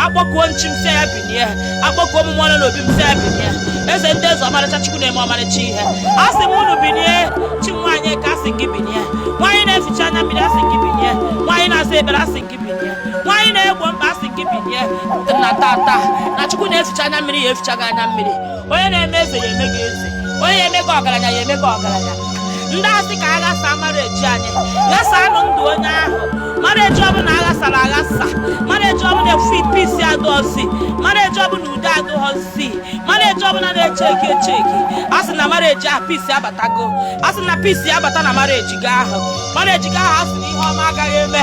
akpọkuo m chi m sị ya binie akpọkuo m mmụọ nọ n'obi m sị ya binie eze ndị eze ọmarịcha chukwu na-eme ọmarịcha ihe a sị m unu binie chi nwaanyị ka a sị m gị binie nwaanyị na-eficha anya mmiri a sị m gị binie nwaanyị na-aza ekpere a sị m gị binie nwaanyị na-egbo mkpa a sị m gị binie na tata na chukwu na-eficha anya mmiri ya eficha gị anya mmiri onye na-eme eze ya eme gị eze onye na-eme gị ọgaranya ya eme gị ọgaranya ndị asị ka aghasa marriage anyị ghasanụ ndụ onye ahụ marriage ọbụla aghasara aghasa marriage ọbụla efu peace adụọzi marriage ọbụla udo adụghọzi marriage ọbụla na-echeki echeki a sị na marriage ahụ peace abatago a sị na peace abata na marriage gị ahụ marriage gị ahụ a sị na ihe ọma agaghị eme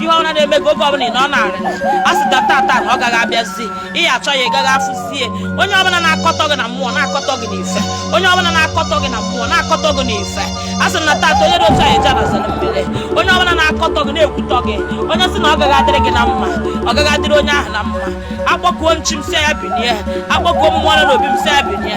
ihe ọbụla na-eme gị oge ọbụla ị nọ n'arịrị a sị na tata na ọ gaghị abịazi ị ya-achọ ya ị gaghị afụzie onye ọbụla na-akọtọ gị na mmụọ na-akọtọ gị n'ife onye ọbụla na-akọtọ gị na mmụọ na-akọtọ gị n'ife a sị na tata onye dị otu anyị eje anazere mmiri onye ọbụla na-akọtọ gị na-ekwutọ gị onye sị na ọ gaghị adịrị gị na mma ọ gaghị adịrị onye ahụ na mma akpọkuo m chi m sị ya binie akpọkuo mmụọ nọ n'obi m sị ya binie